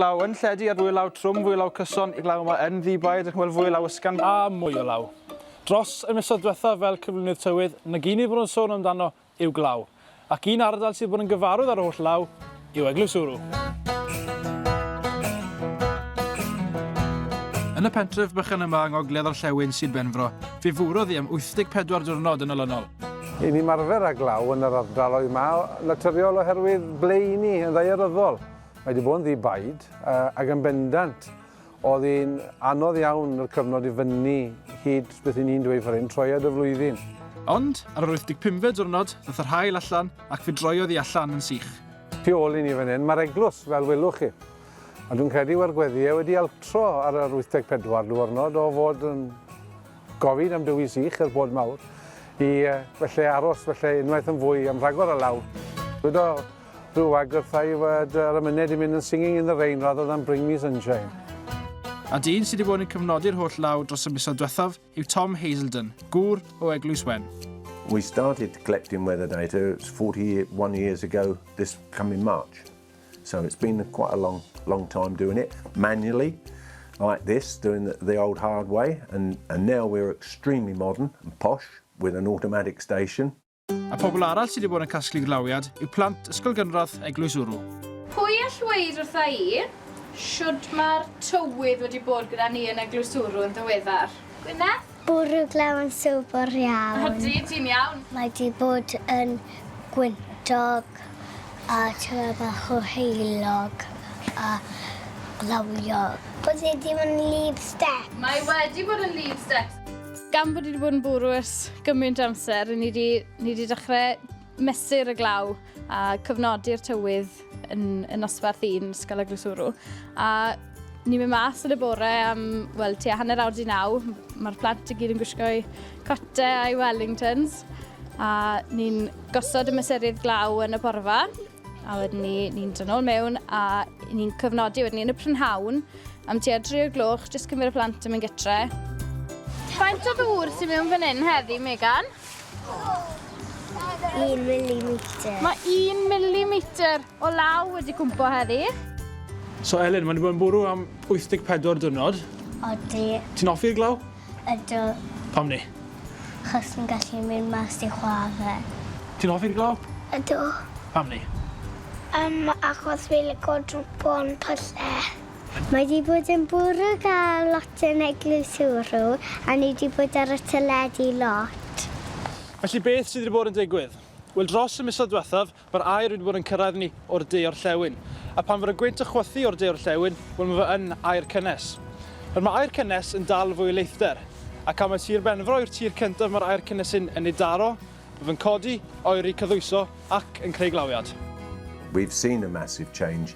Law yn lledu ar fwy law trwm, fwy law cyson, y glaw yma yn ddi-bae, edrych yn well fwy law ysgan. A mwy o law. Dros y misoedd diwethaf fel cyflwynydd tywydd, nag un i fod yn sôn amdano yw glaw. Ac un ardal sydd bod yn gyfarwydd ar holl law yw Eglwys Ŵrw. Yn y pentref bychan yma yng ngogledd orllewin Sir Benfro, fe fwrodd hi am 84 diwrnod yn olynol. I ni ymarfer â glaw yn yr ardaloedd yma, naturiol oherwydd ble i ni, yn ddaearyddol. Mae wedi bod yn ddi baid, ac yn bendant, oedd hi'n anodd iawn yr cyfnod i fyny hyd beth i ni'n dweud fan hyn, troiad y flwyddyn. Ond, ar yr 85fe diwrnod, ddoth yr haul allan, ac fe droiodd hi allan yn sych. Tu ôl i ni fan hyn, mae'r eglws, fel welwch chi. A dwi'n credu mae'r gweddiau wedi altro ar yr 84 diwrnod o fod yn Gofyn am dywi sych yr bod mawr. I felly aros felly unwaith yn fwy am rhagor o law. Dyweda rhyw wag wrtha i fod yr ymyned i mynd yn singing in the rain rather than bring me sunshine. A dyn sydd wedi bod yn cyfnodi'r holl law dros y misoedd diwethaf yw Tom Hazelden, gŵr o Eglwys Wen. We started collecting weather data 41 years ago this coming March. So it's been quite a long, long time doing it manually, like this, doing the, the old hard way, and, and now we're extremely modern and posh with an automatic station. A pobl arall sydd wedi bod yn casglu glawiad yw plant Ysgol Gynradd Eglwys Wrw. Pwy all weid wrtha i shwd mae'r tywydd wedi bod gyda ni yn Eglwys Wrw yn ddiweddar? Gwyneth? Bwrw glaw yn sobor iawn. Ydy, ti'n iawn. Mae di bod yn gwyntog a tymed bach o heulog a lawio. Bod e di bod yn leave steps. Mae wedi bod yn leave steps. Gan bod ni wedi bod yn bwrw ers gymaint amser, ni wedi dechrau mesur y glaw a cyfnodi'r tywydd. yn, yn nosbarth un Ysgol y Glwswrw. A ni'n mynd mas yn y bore am, wel, tua hanner awr di naw. Mae'r plant i gyd yn gwisgo'i cote a'i Wellingtons. A ni'n gosod y mesurydd glaw yn y porfa. A wedyn ni, ni'n dod nôl mewn a ni'n cyfnodi wedyn ni yn y prynhawn am tua 3 o gloch, jyst cymryd y plant yn mynd gytre. Faint o ddŵr sy'n mewn fan hyn heddi, Megan? Un milimetr. Mae un milimetr o law wedi cwmpo heddi. So Elin, mae wedi bod yn bwrw am 84 dwrnod. Odi. Ti'n offi'r glaw? Ydw. Pam ni? Chos ni'n gallu mynd mas i chwarae. Ti'n offi'r glaw? Ydw. Pam ni? Um, achos fi lico drwpo yn pyllau. Mae wedi bod yn bwrw gael lot yn eglwys Ewro a ni wedi bod ar y teledu lot. Felly beth sydd wedi bod yn digwydd? Wel dros y misoedd diwethaf mae'r aer wedi bod yn cyrraedd ni o'r de orllewin. A phan fod y gwynt yn chwythu o'r de orllewin, wel mae fe yn aer cynnes. Nawr mae aer cynnes yn dal fwy o leithder. Ac am mai Tir Benfro yw'r tir cyntaf mae'r aer cynnes hyn yn ei daro, mae fe'n codi, oeri, cyddwyso ac yn creu glawiad. We've seen a massive change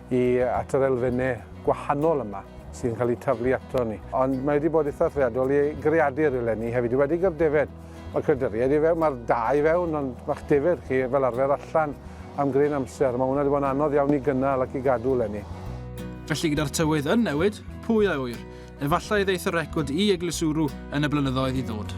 i at yr elfennau gwahanol yma sy'n cael eu taflu ato ni. Ond mae wedi bod eitha threadol i greadur eleni hefyd, wedi gyda'r defaid. Mae creaduriaid i fewn, mae'r da i fewn, ond mae'ch defaid chi fel arfer allan am gryn amser. Mae hwnna wedi bod yn anodd iawn i gynnal ac i gadw eleni. Felly gyda'r tywydd yn newid, pwy a ŵyr, efallai ddeith y record i eglusuru yn y blynyddoedd i ddod.